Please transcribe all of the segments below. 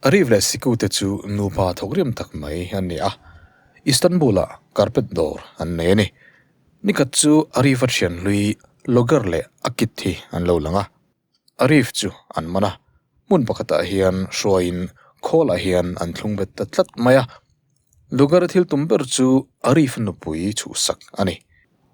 A rih leh sikute chu nupa thawk riam tak mai an ni a, Istanbul-ah carpet dawr an nei a ni. Nikhat chu Arif-a thianhlui logger leh a kit hi an lo lang a, Arif chu an man a, hmun pakhatah hian hruaiin khawlah hian an thlung vet ta tlat mai a. Lugar thil tum ber chu Arif nupui chhuhsak a ni.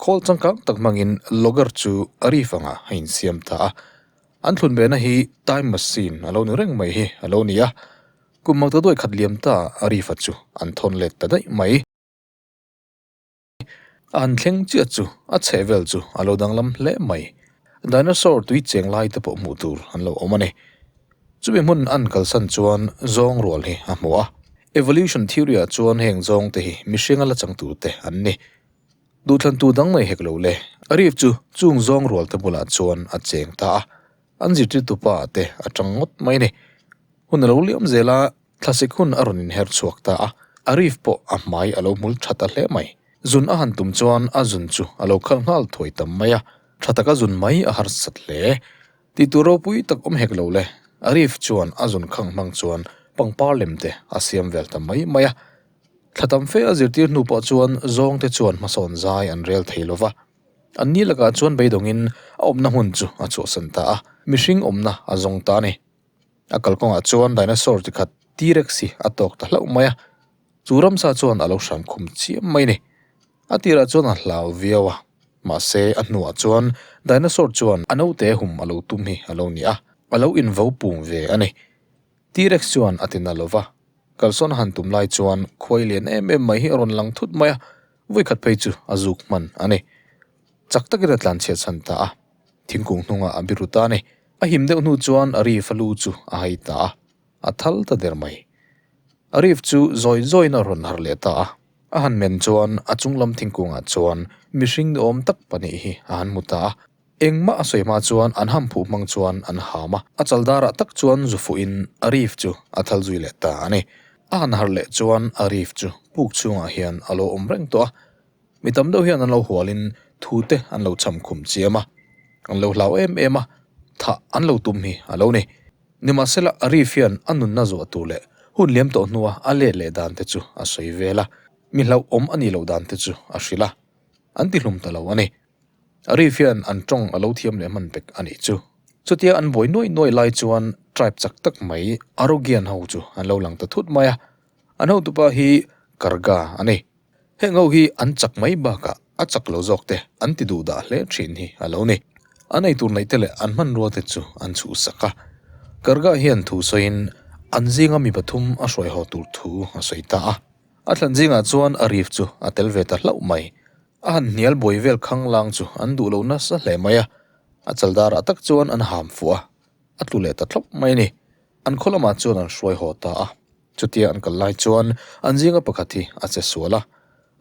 Khawl changkang tak hmangin Lugar chu Arif anga a insiam ta a. An thlun vena hi time machine a lo ni reng mai hi a lo ni a. Kum mangtaduai khat liam ta Arif-a chu an thawn let ta daih mai. An thleng chiah chu a chheh vel chu a lo danglam hle mai. Dinosaur tui cheng lai te pawh hmuh tur an lo awm a ni. Chumi hmun a an kalsan chuan zawng rual hi a hmu a. Evolution theory-ah chuan heng zawng te hi mihring a la chang tur te an ni. Duhthlantu dang mai hek lo le. A rif chu chung zawng rual te bulah chuan a cheng ta a. An zirtirtu pa te a chang ngawt mai a ni. Hun a lo liam zel a, Thlasik hun a rawn inher chhuak ta a, Arif pawh a hmai a lo hmul that a hle mai. Zun a han tum chuan a zun chu a lo khal nghal thuai tam mai a, tha taka zun mai a harsat hle. Tih tur ropui tak awm hek lo le, Arif chuan a zun khang hmang chuan pangpar lem te a siam vel ta mai mai a. Thla tam fe a zirtir hnu pawh chuan zawng te chuan hmasawn zai an rel thei lo va. Anni lakah chuan beidawngin a awmna hun chu a chhuahsan ta a, mihring awmna a zawng ta a ni. A kalkawngah chuan dinosaur chi khat T-rexy a tawk ta hlauh mai a, chu ramsa chuan a lo hran khum chiam mai a ni. A tirah chuan a hlau viau a, mahse a hnuah chuan dinosaur chuan a naute hum a lo tum hi a lo ni a, a lo invo pum ve a ni. T-rex chuan a ti na lo va, kalsawn a han tum lai chuan khuai lian em em mai hi a rawn lang thut mai a, vui khat phei chu a zuk hman a ni. Chak takin a tlanchhiat chhan ta a, Thingkung hnungah a biru ta ni. A him deuh hnu chuan a rif a lu chu a hai ta a, a thal ta der mai. A rif chu zawi zawiin a rawn har leh ta a. A han men chuan a chung lam thingkungah chuan mihring ni awm tak pahnih hi a han hmu ta a. Engmah a sawi hma chuan an ham phuh hmang chuan an ham a. A chal darah tak chuan zu fuhin a rif chu a thal zui leh ta a ni. A han har leh chuan a rif chu puk chhungah hian a lo awm reng tawh a. Mi tam deuh hian an lo hualin thu te an lo cham khum chiam a, an lo hlau em em a, thah an lo tum hi a lo ni. Nimahsela, Arif hian a nunna zawh tur leh hun liam tawh hnua a let leh dan te chu a sawi vel a, mi hlauhawm a nih loh dan te chu a hrilh a, an ti hlum ta lo a ni. Arif hian an tawng a lo thiam leh hman vek a nih chu. Chutia an buai nuai nuai lai chuan tribe chak tak mai Arogean ho chu an lo lang ta thut mai a. An hotupa hi Karga a ni. Heng ho hi an chak mai bakah a chak lo zawk te an ti duh dah hle thin hi a lo ni. A nei tur neih te leh an hmanrua te chu an chhuhsak a. Karga hian thu sawiin an zinga mi pathum a hruai haw tur thu a sawi ta a. A thlan zingah chuan a rif chu a tel ve ta hlauh mai. A han hnial buai vel khang lang chu an duh lo nasa hle mai a. A chal darah tak chuan an ham fuh a. A tlu leh ta thlauh mai a ni. An khaw lamah chuan an hruai haw ta a, chutia an kal lai chuan an zinga pakhat hi a che sual a,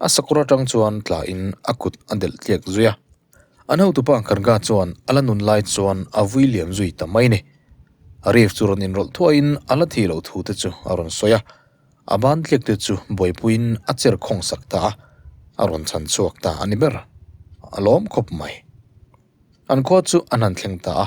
a sakawr atang chuan tlaiin a kut a delh tliak zui a. An hotupa Karga chuan a la nun lai chuan a vui liam zui ta mai ni. Arif chu rawn inrawlh thuaiin a la thi loh thu te chu a rawn sawi a, a ban tliak te chu buaipuiin a cher khawng sak ta a, a rawn chhan chhuak ta a ni ber. A lawm khawp mai. An khaw chu a hnan thleng ta a.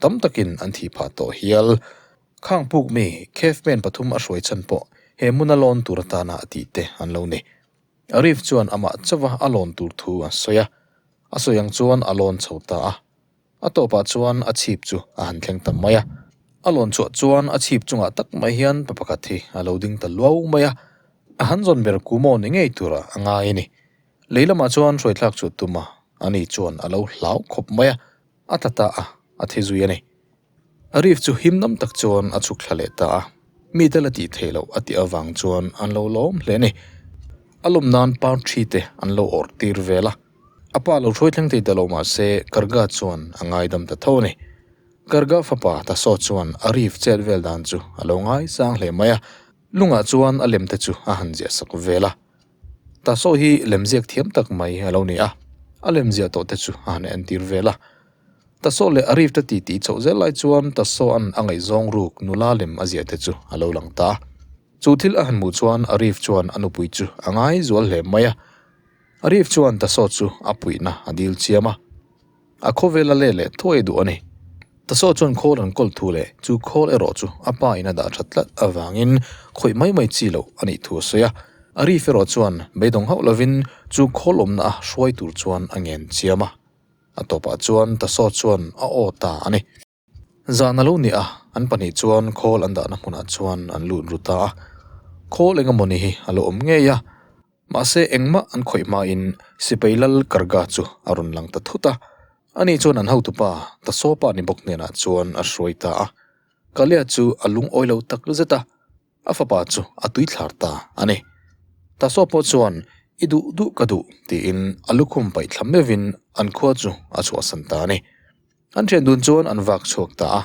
tam takin an thih phah tawh hial. Khang puk mi Cave men pathum a hruai chhan pawh he hmuna lawn tur atana a tih te an lo ni. Arif chuan amah chauha a lawn tur thu a sawi a, a sawi ang chuan a lawn chho ta a. A tawpah chuan a chhip chu a han thleng ta mai a. A lawn chhuah chuan a chhip chungah tak mai hian pa pakhat hi a lo ding ta luau mai a, a han zawn ber ku maw ni ngei tura a ngai a ni. Lei lamah chuan hruaithlak chu tuma a ni chuan a lo hlau khawp mai a. A tla ta a, a the zui a ni. Arif chu him nam tak chuan a chhuk thla leh ta a, mite la tih theih loh a tih avang chuan an lo lawm hle a ni. A lawm nan par thi te an lo awrh tir vel a, a pa lo hruai thleng thei ta lo mah se Garga chuan a ngai dam ta tho a ni. Garga fapa Taso chuan Arif chet vel dan chu a lo ngai sang hle mai a, lungah chuan a lem te chu a han ziah sak vel a. Ta Saw hi lemziak thiam tak mai a lo ni a, a lemziah tawh te chu a han en tir vel a. Ta Saw leh a rifta ti ti chhoh zel lai chuan ta Saw an a ngaihzawng ruk nula lem a ziah te chu a lo lang ta a. Chu thil a han hmuh chuan a rif chuan a nupui chu a ngai zual hle mai a. A rif chuan ta Saw chu a puihna a dilchiam a. A khawvel a let leh thuai duh a ni. Tasawh chuan khawl an kawlh thu leh chu khawl erawh chu a pa in a dah that tlat avangin khawih mai mai chi lo a nih thu a sawi a. A Rif erawh chuan beidawng hauh lovin chu khawl awmna a hruai tur chuan a ngenchiam a. A tawpah chuan Tasawh chuan a aw ta a ni. Zan a lo nia, an pahnih chuan khawl an dahna hmunah chuan an lut ru ta a. Khawl eng emaw ni hi a lo awm ngei a. Mahse, engmah an khawih hmain Sipai Lal Karga chu a rawn lang ta thut a. Ani chuan an hotupa Ta Sawpa ni bawk hnenah chuan a hruai ta a. Kalia chu a lungawi lo tak zet a. A fapa chu a tui thlar ta a ni. Tasawp pawh chuan i duh duh ka duh tiin a lukhum paih thla meuhin an khua chu a chhuahsan ta a ni. An thian dun chuan an vak chhuak ta a.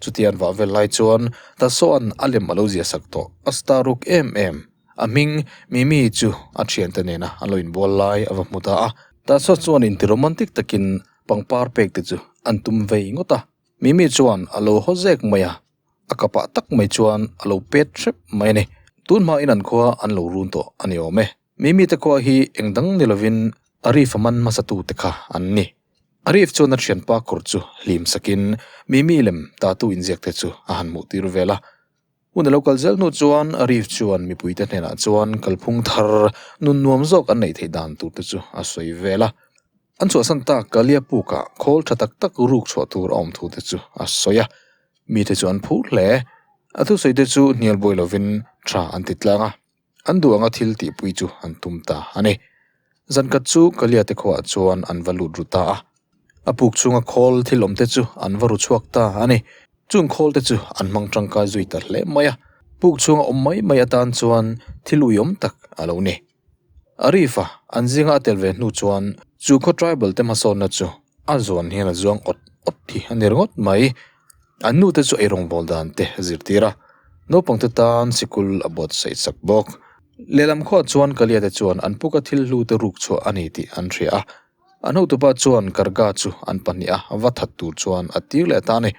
Chuti an vah vel lai chuan Tasawn a lem a lo zia sak tawh. A star ruk em em. A hming Mimi chu a thiante nena a lo inbual lai a va hmu ta a. Tasaw chuan inti romantic takin pangpar pek te chu an tum vei ngawt a. Mimi chuan a lo haw zek mai a. A ka pah tak mai chuan a lo pêt hrep mai a ni. Tûn hma in an khua an lo rûn tawh a ni awm e. Mimi te khua hi eng dang ni lovin Arif a man hmasa tu te kha an ni. Arif chuan a ṭhianpa kawr chu hlim sakin Mimi lem tatu inziak te chu a han hmuh tir vêl a. Hun a lo kal zel hnu chuan Arif chuan mipui te hnenah chuan kalphung thar nun nuam zawk an neih theih dan tur te chu a sawi vêl a. An chhuahsan tak Kaliapuk-ah khawl ṭha tak tak rûk chhuah tur a awm thu te chu a sawi a. Mite chu an phu hle. A thusaite chu hnial buai lovin tha an ti tlang a, an duh anga thil tihpui chu an tum ta a ni. Zankhat chu Kaliate khuaah chuan an va lut ru ta a, a puk chhunga khawl thil awmte chu an va ru chhuak ta a ni. Chung khawlte chu an hmang tangkai zui ta hle mai a, puk chhunga awm mai mai atan chuan thil uiawm tak a lo ni. Arif-a an zinga a tel ve hnu chuan chu khaw tribal te hmasawnna chu a zawn hian a zuang awt awt hi a ner ngawt mai. An nu te chu eirawn bawl dan te a zirtir a, naupang te tan sikul a buatsaih chak bawk. Lehlam khuaah chuan Kalia te chuan an puka thil hlu te ruk chhuah a ni tih an hria a, an hotupa chuan Karga chu an pahnih a va that tur chuan a tir leh ta a ni.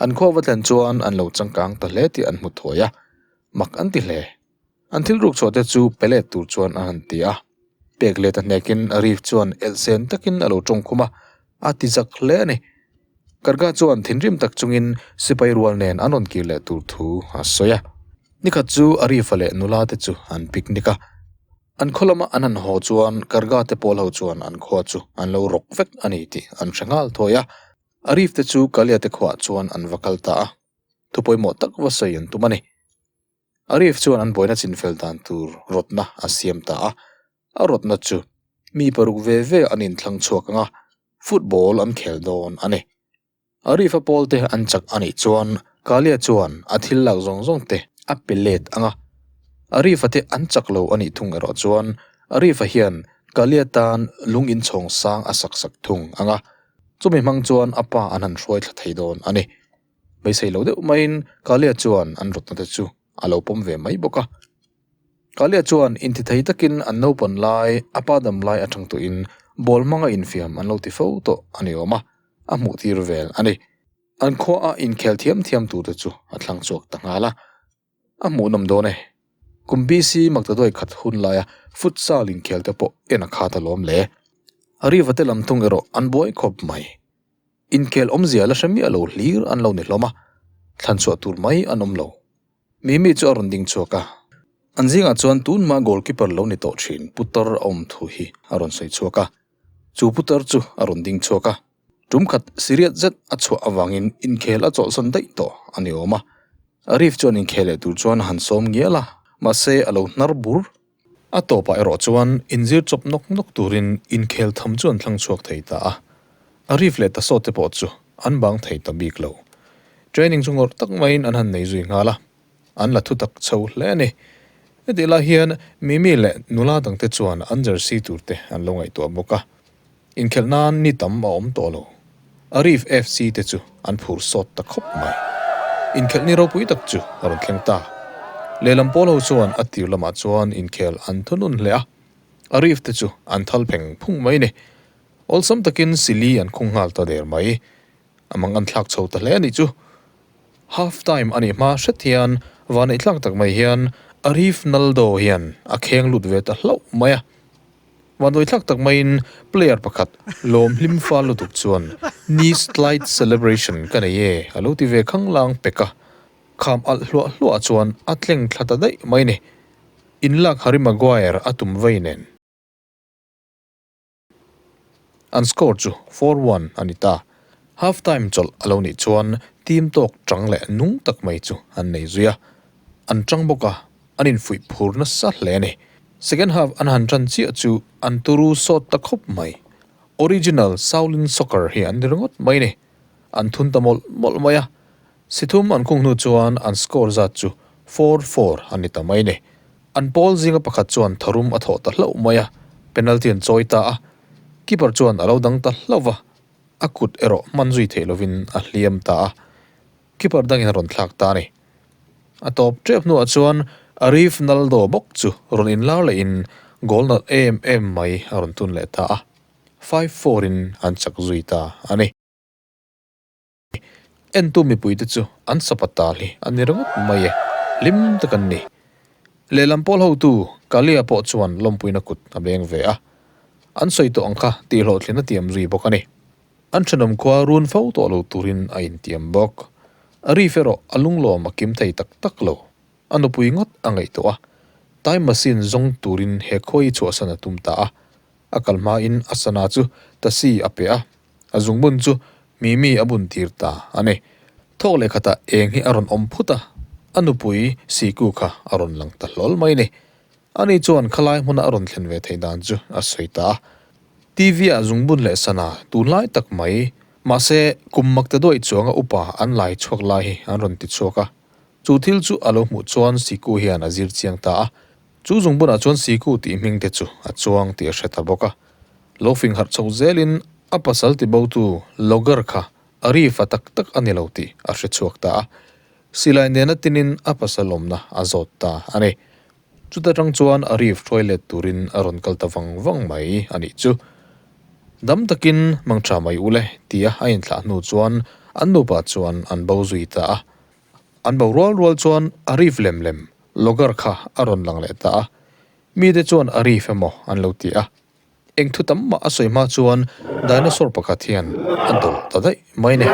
An khaw a va thlen chuan an lo changkang ta hle tih an hmu thuai a, mak an ti hle. An thil ruk chhuah te chu pe let tur chuan a han ti a, pek let a hnek in Arif chuan el sen tak in a lo tawng khum a, a ti zak hle a ni. Karga chuan thinrim tak chung in sipai rual nen an rawn kir leh tur thu a sawi a. Ni khat chu Arifa leh nula te chu an picnic a, an khaw lam a an han haw chuan Karga te pawl ho chuan an khua chu an lo rawk vek a ni tih an hre nghal thawi a. Arif te chu Kalia te khuah chuan an va kal ta a, thupawimawh tak va sawi an tum a ni. Arif chuan an buaina chinfel dan tur rawtna a siam ta a, a rawtna chu mi paruk ve ve an inthlang chhuak anga football an khel dawn a ni. Arifa pawlte an chak a nih chuan Kalia chuan a thil lak zawng zawng te a pe let anga, Arifa te an chak lo a nih thung erawh chuan Arifa hian Kalia tan lung inchhawng sang a sak sak thung anga, chumi hmang chuan a pa an han hruaithla thei dawn a ni. beisei lo deuh maiin Kalia chuan an rutna te chu a lo pawm ve mai bawk a. Kalia chuan intithei takin an naupang lai a pa dam lai aṭang tuihin ball hmanga infiam an lo ti fo tawh a ni awm a, a hmuh tir vel a ni. An khuaa inkhel thiam thiam tur te chu a thlang chhuak ta nghal a. A hmuh nawm dawn e. Kum BC Magtaduai khat hun laia futsal inkhial te pawh en a khat alawm le. Arriva te lam thung erawh an buai khawp mai. Inkhel awmzia la hre miah lo hlir an lo ni hlawm a, thlan chhuah tur mai an awm lo. Mimi chu a rawn ding chhuak a. An zingah chuan tunmah goalkeeper lo ni tawh thin putar a awm thu hi a rawn sawi chhuak a, chu putar chu a rawn ding chhuak a. Tumkhat siriat zet a chhuah avangin inkhel a chawlhsan daih tawh a ni awm a, Arif chuan inkhel leh tur chuan a han sawm ngial a, mahse a lo hnar bur. A tawpah erawh chuan inzir chawp nawk nawk turin inkhel tham chu an thlang chhuak thei ta a, Arif leh Tasawt te pawh chu an bang thei ta bik lo. Training chu ngawrh tak maiin an han nei zui nghal a. an la thutak chho hle a ni. Hetih lai hian Mimi leh nula dang te chuan an jersey tur te an lo ngaihtuah bawk a, inkhelh nan ni tam a awm tawh lo. Arif FC te chu an phur sawt ta khawp mai. Inkhelh ni ropui tak chu a rawn thleng ta. Lehlam pawl ho chuan a tir lamah chuan inkhelh an thunun hle a, Arif te chu an thal pheng phung mai a ni. Awlsam takin Sili an khung nghal ta der mai. A mang anthlak chho ta hle a nih chu. Half time a nih hma hret hian vahneih tlak tak mai hian Arif Naldo hian a kheng lut ve ta hlauh mai a. Vahnawi tlak tak maiin player pakhat lawm hlim fal lutuk chuan Knee slide celebration ka nei e a lo ti ve khanglang pek a. Kham alh hluah hluah chuan a tleng thla ta daih mai ni. In lak Harry Maguire a tum vei nen. An score chu four one a ni ta. Half time chawlh a lo nih chuan team tawk chang leh nung tak mai chu an nei zui a. An chang bawk a, an infuih phur nasa hle a ni. Second half an han chan chiah chu an turu sawt ta khawp mai. Original Shaolin Soccer hi an ni ringawt mai a ni. An thun ta mawlh mawlh mai a. Si thum an khung hnu chuan an score zat chu four four a ni ta mai ni. An pawl zinga pakhat chuan tharum a thawh ta hlauh mai a, penalty an chawi ta a, keeper chuan a lo dang ta hlauh va, a kut erawh hman zui theih lovin a hliam ta a, keeper dangin a rawn thlak ta a ni. A tawp tep hnuah chuan Arif Naldo bawk chu rawn inlar leh in goal nalh em em mai a rawn tun leh ta a, five four in an chak zui ta a ni. Entu mipui te chu an sapa tal hi a ni ringawt mai e, hlim tak an ni. Lehlam pawl hotu Kalia pawh chuan lawmpuina kut a beng ve a, an sawi tawh ang kha tih hlawhthlin a tiam zui bawk a ni. An thenawm khua run fo tawh lo turin a intiam bawk. A rif erawh a lunglawm a kim thei tak tak lo. A nupui ngawt a ngaihtuah a, time machine zawng turin he khawi chhuahsan a tum ta a. A kal hmain a sana chu tasi a pe a, A zungbun chu Mimi a bun tir ta a ni. Thawk leh khatah eng hi a rawn awm phut a, a nupui Siku kha a rawn lang ta hlawl mai ni. Ani chuan khalai hmuna a rawn thlen ve thei dan chu a sawi ta a. TV-ah Zungbun leh Sana tunlai tak mai, mahse kum Makte Duai chuanga upa an lai chhuak lai hi an rawn ti chhuak a. Chu thil chu a lo hmuh chuan Siku hian a zir chiang ta a. Chu zung bunah chuan Siku tih hming te chu a chuang tih a hre ta bawk a. Lo fing harh chhoh zelin a pasal ti botu Logger kha a ri fa tak tak a ni lo tih a hre chhuak ta a. Silai nena tinin a pasal awmna a zawt ta a ni. Chuta tang chuan a ri hruai let turin a rawn kal ta vang vang mai a nih chu. Dam takin mang tha mai u le tia a inthlah hnu chuan an nupa chuan an bo zui ta a. An bo rual rual chuan a rif lem lem. Logger kha a rawn lang leh ta a, mite chuan a rif emaw an lo ti a. Eng thu tam mah a sawi hma chuan dinosaur pakhat hian a dawh ta daih mai neh.